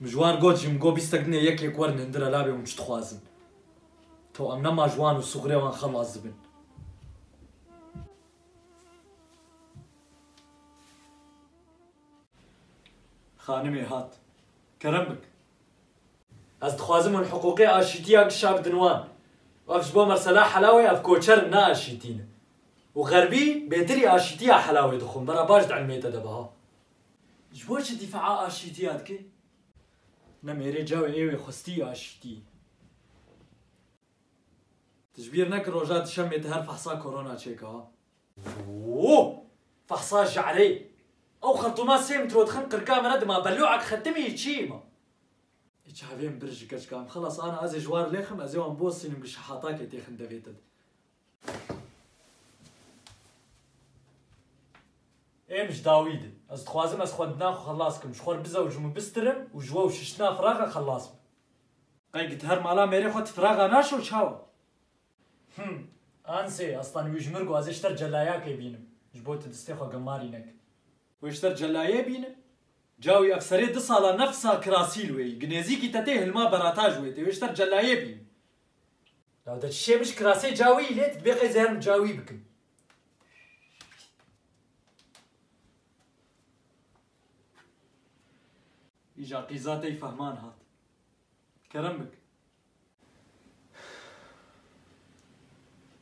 Mijwan got, Ji min go bîstek dinê yekek werin hindira labê hûn çi dixwazin. To em nema ji wan û sûxurê wan xelas dibin. Xanimê hat, Kerem bik. Ez dixwazim hûn hiqûqê aşîtiyan kişa bidin wan. Wek ji bo mesela Helawê ev koçer in ne aşîtî ne. Û xerbî bêdilî aşîtîya helawê dixwin vera baş di ilmê te de biha. Ji bo çi dîfaa aşîtîya dike? Ne mêrê cawê êwê xwistî aşîtî. Tu ji bîr neke roja dişemê tu her fehsa korona çêke ha. Wû! Fehsa je'rê! Ew xertûma sê mitro dixin qirka min re dima belu'ek xetimî yî çî yî ma. Ê çavê min bir ji keçika min xelas ana ez ê ji wan lêxim ez ê wan bosînim ku şehatakê têxin devê te de. Ê min ji dawî di. Ez dixwazim ez xwendina xwe xelas bikim, ji xwe re bizewicim û bistirim û ji we û şiştina firaxe xelas bim. Qey gi ti her mala mêrê xwe ti firaxa naşo çawa? Him, Ansê, ez tenê wî ji mir got ez ê ji ter celayakê bînim, ji bo ti distê xwe gemarî nekim. Wê ji ter celayê bînim? Ca wî ev serê du sala nefsa kirasî li wê yî, gi nêzîkî te tê hilma berata ji wê tê, wê ji ter celayê bînim. Dawda çişê min ji kirasê cawî lê tu dibê qey zerm cawî bikim. Îja qîza tey fehman hat. Kerem bik.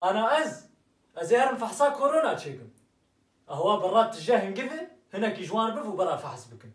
Ana ez? Ez ê herim fehsa korona çêkim. Awa bi re tije hingivê hinekî ji wan biv û bera fehs bikin.